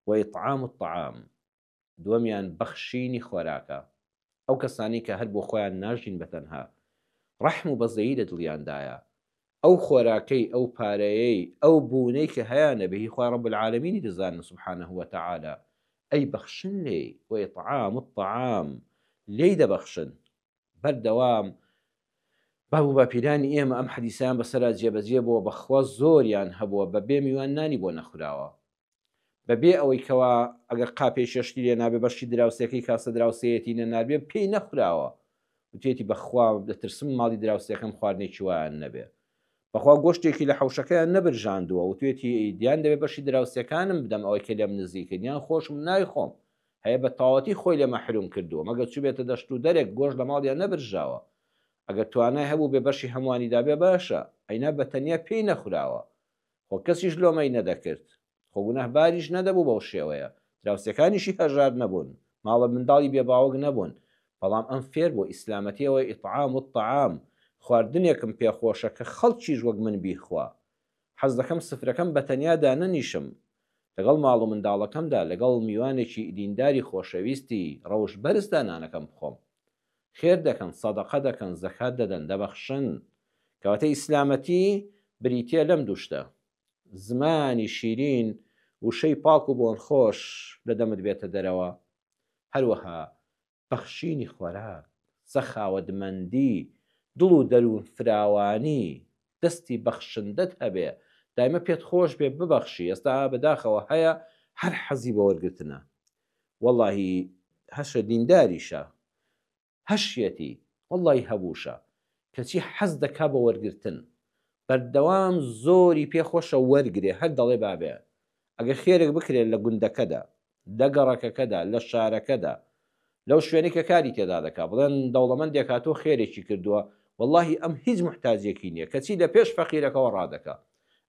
و اطعام الطعام، دووەمیان بەخشینی خۆراکە، ئەو کەسانەی کە هەر بۆ خۆیان ناژین بە تەنها ڕەحم و بەزەیی لە دڵیاندایە، ئەو خۆراکەی ئەو پارەیەی ئەو بوونەی کە هەیانە بە هی خوای رب العالمینی دەزانن سبحانە و تعالی ئەیبەخشن لێی، و اطعام الطعام، لێی دەبەخشن، بەردەوام بە وباپیرانی ئێمە ئەم حەدیسەیان بەسەرا جێبەجێ بۆوە بەخوا زۆریان هەبووە بەبێ میوان نانی بۆ نەخوراوە بەبێ ئەوەی کەوا ئەگەر قاپێی شەشتی لێ نابێ بەشی دراوسێکەی کاسە دراوسێیەتی نەناربێ پێی نەخوراوە وتێتی بەخوا دەترسم ماڵی دراوسێکەم خواردنێکی وایان نەبێ بەخوا گۆشتێکی لە حوشەکەیان نەبرژاندووە وتێتی ئیدیان دەبێ بەشی دراوسەکانم بدەم ئەوەی کە لێم نزیکن یان خۆشم نایخۆم هەیە بە تەواوەتی خۆی لێ مەحروم کردووە مەگەر چووبێتە دەشت و دەرێک گۆشت لە ماڵیان نەبرژاوە ئەگەر توانای هەبووبێ بەشی هەمووانی دابێ باشە ئەینا بە تەنیا پێی نەخوراوە خۆ کەسیش لۆمەی نەدەکرد خۆ گوناه باریش نەدەبوو بەو شێوەیە دراوسێکانیشی هەژار نەبوون ماڵە منداڵی بێ باوک نەبوون بەڵام ئەم فێر بووە ئیسلامەتیەوەی اطعام الطعام خواردنێکم پێ خۆشە کە خەڵکیش وەک من بیخوا حەز دەکەم سفرەکەم بە تەنیا دانەنیشم لەگەڵ ماڵ و منداڵەکەمدا لەگەڵ میوانێکی دینداری خۆشەویستی ڕەوشت بەرزدا نانەکەم بخۆم خێر دەکەن سەدەقە دەکەن زەکات دەدەن دەبەخشن کەواتە ئیسلامەتی بریتیە لەم دوو شتە زمانی شیرین وشەی پاک و بۆنخۆش لە دەمت بێتە دەرەوە هەروەها بەخشینی خۆراک، سەخاوەتمەندی، دڵ و دەروون فراوانی، دەستی بەخشندەت هەبێ، دایمە پێت خۆش بێ ببەخشی، ئێستا بەداخەوە هەیە هەر حەزی بە وەرگرتنە، وەڵاهی هەشە دینداریشە، هەشیەتی، وەڵاهی هەبووشە، کەچی حەز دەکا بە وەرگرتن، بەردەوام زۆری پێ خۆشە وەرگرێ، هەر دەڵێ بابێ ئەگەر خێرێک بکرێ لە گوندەکەدا، لە گەڕەکەکەدا، لە شارەکەدا، لەو شوێنەی کە کاری تێدا دەکات، بڵێن دەوڵەمەندێک هاتووە خێرێکی کردووە، وەڵاهی ئەم هیچ موحتاجییەکی نییە، کەچی لە پێش فەقیرەکەوە ڕادەکات.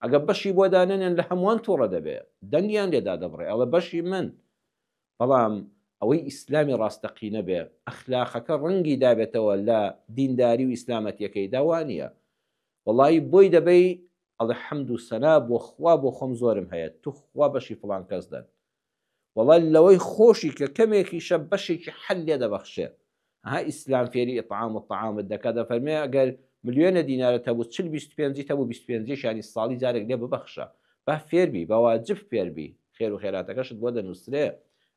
ئەگەر بەشی بۆ دانەنێن لە هەمووان تووڕە دەبێت، دەنگیان لێ دادەبڕێت، ئەڵێت بەشی من. بەڵام ئەوەی ئیسلامی ڕاستەقینە بێت، ئەخلاقەکە ڕەنگی دابێتەوە لە دینداری و ئیسلامەتییەکەیدا، وا نییە. وەڵایی بۆی دەبەی ئەڵێ حەمد و سەنا بۆ خوا بۆ خۆم زۆرم هەیە توخوا بەشی فڵان کەس دەن وەڵا لەوەی خۆشی کە کەمێکیشە بەشێکی حەل لێ دەبەخشێ ها ئیسلام فێری ئیطعام و طعامت دەکات دەفەرمێ ئەگەر ملیۆنە دینارە تەبوو چل بیست پێنجی تەبوو بیست پێنجیش یانی ساڵی جارێک لێ ببەخشە با فێربی بە واجب فێربی خێر و خێراتەکەشت بۆ دەنووسرێ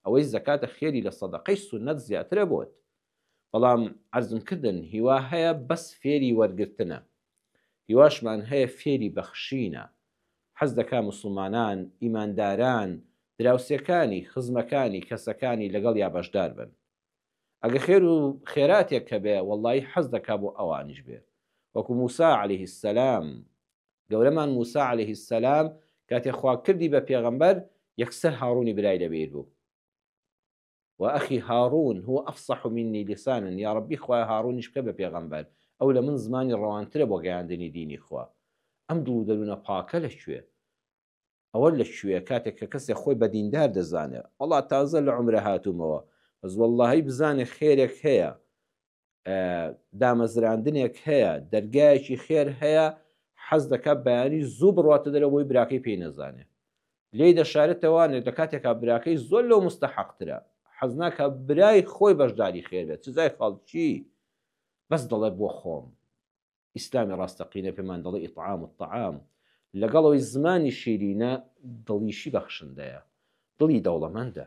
ئەوەی زەکاتە خێری لە سەدەقەی سوننەت زیاترە بۆت بەڵام عەرزم کردن هیوا هەیە بەس فێری وەرگرتنە هیواشمان هەیە فێری بەخشینە حەز دەکا موسڵمانان ئیمانداران دراوسێکانی خزمەکانی کەسەکانی لەگەڵیا بەشدار بن ئەگە خێر و خێراتێک هەبێ وەڵڵایی حەز دەکا بۆ ئەوانیش بێ وەکو موسا علیە سەلام گەورەمان موسا علیه سەلام کاتێ خوا کردی بە پێغەمبەر یەکسەر هاڕوونی برای لەبیر بوو وە ئەخی هاڕوون هو ئەفسەحو منی لیسانن یاڕەبی خوایە هاڕوونیش بکە بە پێغەمبەر ئەو لە من زمانی ڕەوانترە بۆ گەیاندنی دینی خوا ئەم دڵ و دەروونە پاکە لە کوێ ئەوە لە کوێ کاتێک کە کەسێک خۆی بە دیندار دەزانێ وەڵا تازە لە عومرە هاتوومەوە بەس وەڵاهی بزانێ خێرێک هەیە دامەزراندنێک هەیە دەرگایەکی خێر هەیە حەز دەکات بەیانی زوو بڕاتە دەرەوەی براکەی پێی نەزانێت لی دەشارێتەوانێت لە کاتێکا براکەی زۆر لەو مستەحەقترە حەزناکە برای خۆی بەشداری خێرێت چزای خەڵکی بەس دەڵێ بۆ خۆم ئیسلامی ڕاستەقینە پێمان دەڵێ ئیطعام و تەعام لەگەڵەوەی زمانی شیرینە دڵیشی بەخشندەیە دڵی دەوڵەمەندە